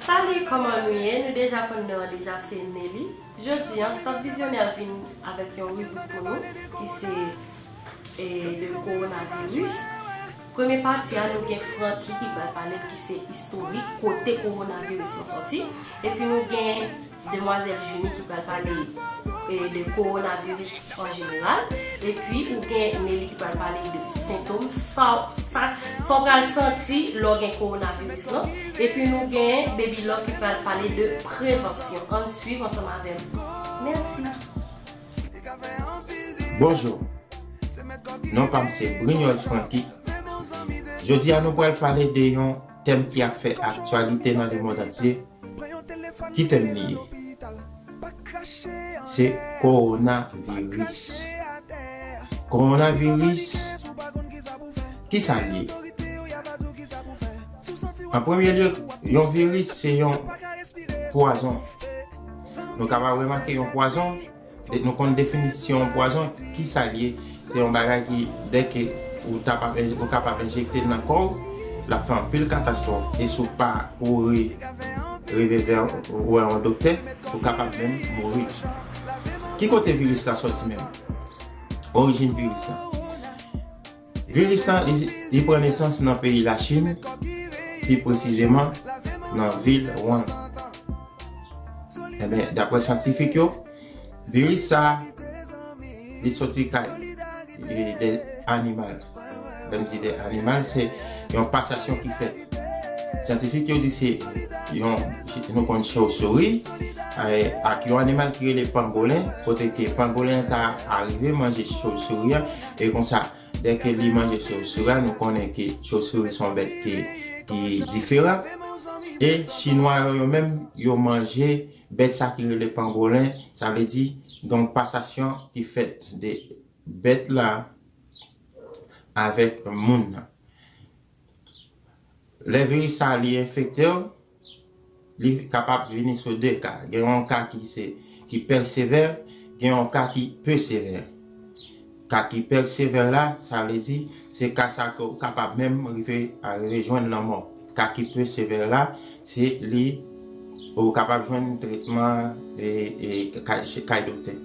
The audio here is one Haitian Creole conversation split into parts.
Salut kòman nou ye nou deja konn non an deja se Nelly jodi an Staff Vizyonè ap vin avèk yon ribrik pou nou ki se le coronavirus premye pati a nou gen Francky ki pral pale l ki se istorik kote coronavirus lan sòti epi nou gen Demwazel Junie ki pral pale de korona viris an jeneral epi ou gen Nelly ki pral pale de sentom sa ou pral santi lè w gen korona viris lan epi nou gen Baby Love ki pral pale de prevansyon ann swiv ansanm avè m mèsi. Bonjour non pam se brignol franky jodia nou pral pale de yon tèm ki ap fè aktyalite nan lemond antye. Ki tèm li ye? Se Kowona viris. Kowona viris, ki sa li ye? An premye lye, yon viris se yon pwazon. Nou kapab remake yon pwazon. Nou konn definisyon pwazon, ki sa l ye? Se yon bagay ki dè ke ou ta pa bè, ou kapab enjekte l nan kò w, l ap fè anpil katastwòf e si w pa kouri rive vè yon wè yon doktè, ou kapab menm mouri. Ki kote viris la sòti menm? Orijin viris la. Viris la li pran nesans nan peyi Lachin, pi presizeman nan vil Wuhan. Enben, dapre syantifik yo, viris sa a li soti kay de animal. Lè m di de animal, se yon pasasyon ki fèt. Syantifik yo di se yon, nou konn chauve-souris, ak yon animal ki rele pangolen, kote ke pangolen an ta arive manje chauve-souris an, E konsa, dè ke li manje chauve-souris a, nou konnen ke chauve-souris son bèt ki diferan. E chinwa yo, yo menm, yo manje bèt sa ki rele pangolen, sa vle di gen yon pasasyon ki fèt de bèt la avèk moun nan. Lè viris sa li enfekte w, li kapab vini sou 2 ka. Gen yon ka ki se ki pè sevè, gen yon ka ki peu sevè. Ka ki pè sevè la, sa vle di se ka sa ke ou kapab menm rive a rive jwenn lanmò. Ka ki peu sevè la, se li. Ou kapab jwenn tretman kay doktè.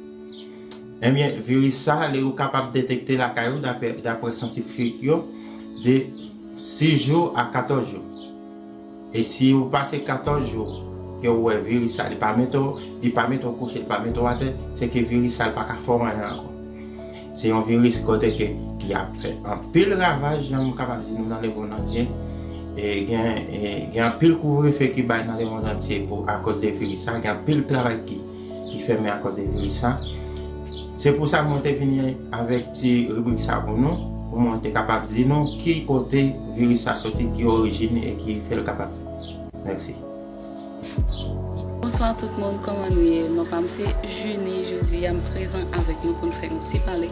Ebyen viris sa li ou kapab detekte lakay ou dapre syantifik yo de 6 jou a 14 jou. E si ou pase 14 jou ke ou wè viris sa li pa mete ou, li pa mete ou kouche, li pa mete ou atè, se ke viris sa li pa ka fè ou anyen ankò. Se yon viris kote ke ki ap fè anpil ravaj jan m kapab di nou nan lemond antye. E gen gen anpil kouvrefe ki bay nan lemond antye pou akoz de viris sa. Gen anpil travay ki ki fèmen akoz de viris sa. Se pou sa mwen te vini avèk ti ribrik sa pou nou, pou mwen te kapab di nou ki kote viris sa soti, ki orijin e ki fè l kapab fèt. Mèsi. Bonswa tout moun kòman nou ye non pam se Junie jodi a m prezan avèk nou pou n fè yon ti pale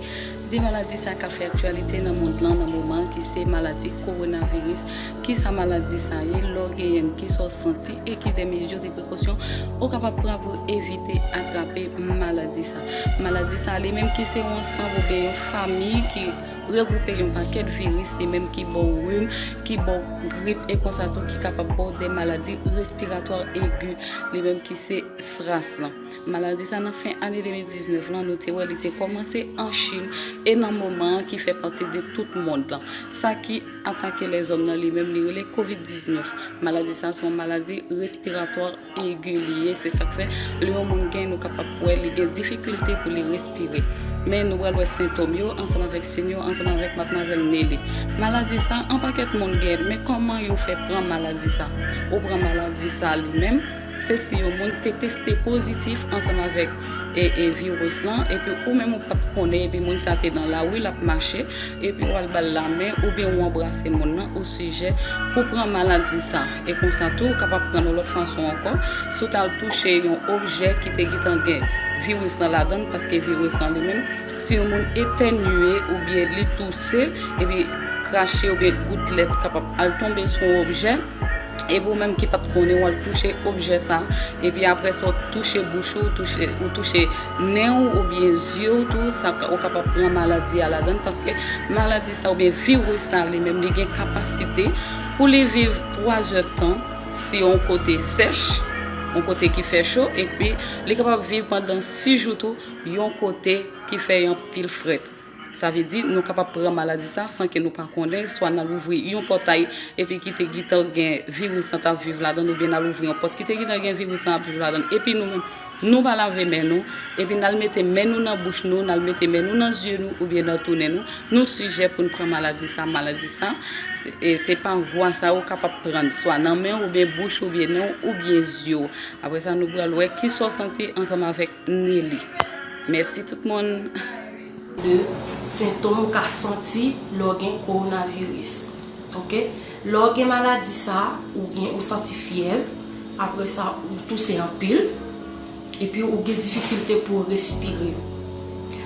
de maladi sa kap fè aktyalite nan mond lan nan moman ki se maladi kowonaviris kisa maladi sa ye lè w genyen l kisa w santi e ki de mezi de prekosyon ou kapab pran pou evite atrape maladi sa maladi sa li menm ki se yon ansanm oubyen yon famiy ki Regwoupe yon pakèt viris li menm ki ba w rim, ki ba w grip e konsa tou ki kapab ba w de maladi respiratwa egi li menm ki se SRAS lan. Maladi sa nan fen ane 2019 lan nou te wè li te kòmanse an Chin e nan moman an ki fè pati de tout mond lan. Sa ki atake lèzòm nan li menm li rele Covid 19. Maladi sa se yon maladi respiratwa. Egi li ye, se sa k fè lè yon moun gen nou kapab wè li gen difikilte pou li respire. Men nou pral wè sentom yo ansanm avèk siy yo ansanm avèk madmwazèl Nelly. Maladi sa a anpakèt moun gen l men kòman yo fè pran maladi sa a? Ou pran maladi sa a li menm se si yon moun te teste pozitif ansanm avèk viris lan epi ou menm ou pa t konnen epi moun sa a te nan lari l ap mache epi w al ba l lamen oubyen ou anbrase moun nan ou sijè pou pran maladi sa a. E konsa tou, ou kapab pran yon lòt fason ankò, si w t al touche yon objè ki te gentan gen viris lan ladan l, paske viris lan li menm, si yon moun etènye oubyen li touse, epi krache oubyen goutlèt kapab al tonbe sou yon objè, epi ou menm ki pa t konnen, w al touche objè sa, epi apre sa w touche bouch ou, ou touche nen w oubyen zye w tou, sa ou kapab pran maladi a ladan l, paske maladi sa oubyen viris sa li menm li gen kapasite. pou li viv 3 zè tan si yon kote sèch, yon kote ki fè cho, epi li kapab viv pandan 6 jou tou yon kote ki fè yon pil frèt. Sa vle di nou kapab pran maladi sa san ke nou pa konnen, swa nan louvri yon pòtay epi ki te gitan gen viris lan tap viv ladan oubyen nan louvri yon pòt ki te gitan gen viris lan ap viv ladan epi nou menm. Nou va lave men nou, epi n al mete men nou nan bouch nou, n al mete men nou nan zye nou oubyen nan tou nen nou, nou sijè pou n pran maladi sa, maladi sa, se pa vwa sa ou kapab prann, swa nan men w oubyen bouch ou oubyen nen w oubyen zye w. Apre sa nou pral wè ki sa w santi ansanm avèk Nelly. Mèsi tout moun. 2, Sentom ou ka santi lè w gen Kowonaviris. Ok. Lè w gen maladi sa, ou gen ou santi fyèv, apre sa ou touse anpil, epi ou gen difikilte pou w respire.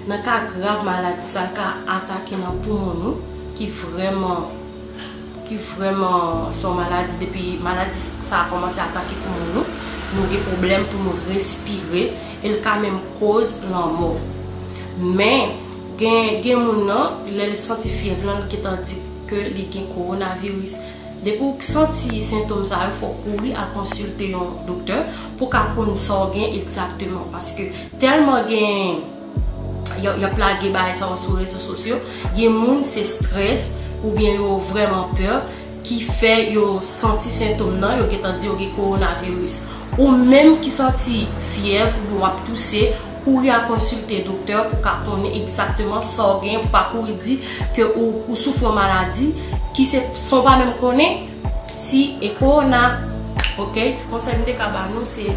Nan ka grav maladi sa ka atake nan poumon nou ki vrèman ki vrèman se yon maladi depi maladi sa kòmanse atake poumon nou, nou gen pwoblèm pou nou respire e l ka menm koz lanmò. Men, gen gen moun nan lè l santi fyèv lan l gentan di. ke li gen kowonaviris. Depi w santi sentom sa yo fòw kouri al konsilte yon doktè pou ka konn sa w gen egzakteman paske tèlman gen yap lage bagay sa yo sou rezo sosyo gen moun se strès oubyen yo vrèman pè ki fè yo santi sentom nan yo gentan di yo gen kowonaviris ou menm ki santi fyèv oubyen wap touse Kouri al konsilte doktè pou ka konnen egzakteman sa w genyen pou pa kouri di ke ou soufri yon maladi ki se san w pa menm konnen si e kowona ok. Konsèy m te ka ba nou se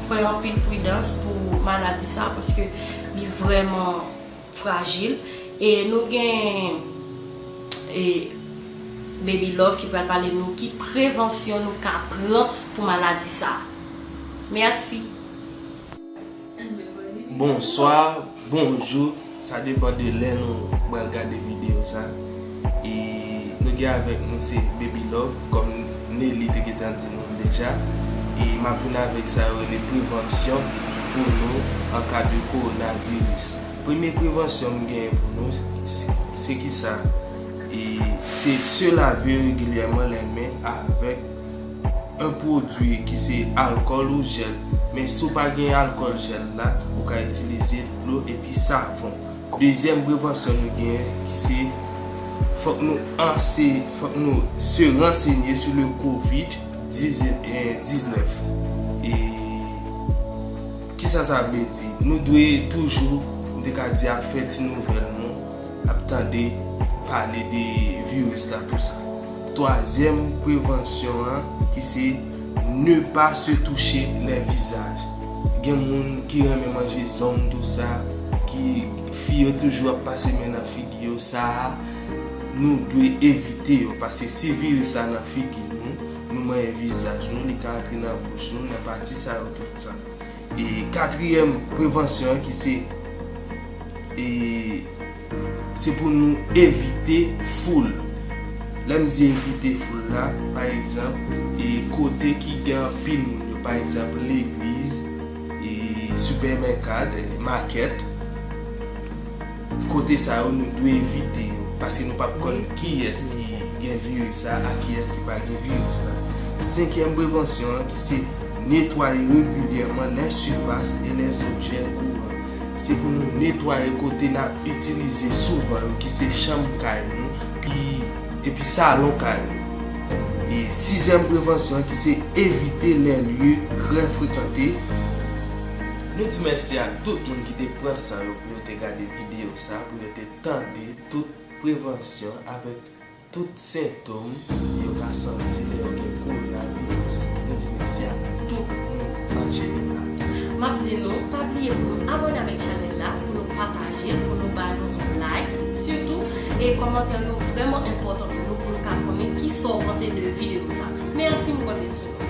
fè anpil pridans pou maladi sa paske li vrèman frajil e nou gen e Baby Love ki pral pale nou ki prevansyon nou ka pran pou maladi sa. Mèsi. Bonswa, bonjou, sa depan de lè nou pral gade videyo sa e nou gen avèk nou se Baby Love kòm Nelly te gentan di nou deja e m ap vin avèk sa yo rele prevansyon pou nou an ka de kowonaviris. Premye prevansyon m genyen pou nou se kisa? Se se lave regilyèman lè men avèk. 1 pwodwi ki se alkòl ou jèl, men si w pa gen alkòl jèl la, ou ka itilize dlo epi savon. Dezyèm prevansyon nou genyen ki se fòk nou anse, fòk nou se ransenye sou le covid 19. E kisa sa vle di? Nou dwe toujou, m te ka di ap fè ti nouvèl nou. ap tande pale de virus la tou sa. Twazyèm prevansyon an ki se ne pa se touche lè vizaj. Gen moun ki renmen manje zong tou sa, ki fi yo toujou ap pase men nan figi yo sa a nou dwe evite yo paske si virus la nan figi nou, nou manyen vizaj nou li ka antre nan bouch nou nan pati sa yo tou sa. E katriyèm prevansyon an ki se e se pou nou evite foul. Lè m di evite foul la, pa egzanp, e kote ki gen anpil moun yo, pa egzanp, legliz, e sipèmèkad, makèt. Kote sa yo nou dwe evite yo paske nou pap konn kiyès ki gen viris la ak kiyès ki pa gen viris la. Senkyèm prevansyon an ki se netwaye regilyèman lè sifas e lè zobjè kouran. Se pou nou netwaye kote nap itilize souvan yo ki se chanm kay nou epi salon kay nou. E sizyèm prevansyon an ki se evite lè lye trè frekante. Nou di mèsi ak tout moun ki te pran san yo pou yo te gade videyo sa pou yo te tande tout prevansyon avèk tout sentom yo ka santi lè yo gen kowonaviris. Nou di mèsi ak tout moun an jeneral. Map di nou pa bliye pou nou abone avèk chanèl la, pou nou pataje l, pou nou ba nou yon like sitou e kòmantè yo vrèman enpòtan pou nou pou nou ka konnen kisa w panse de videyo sa. Mèsi m konte sou nou.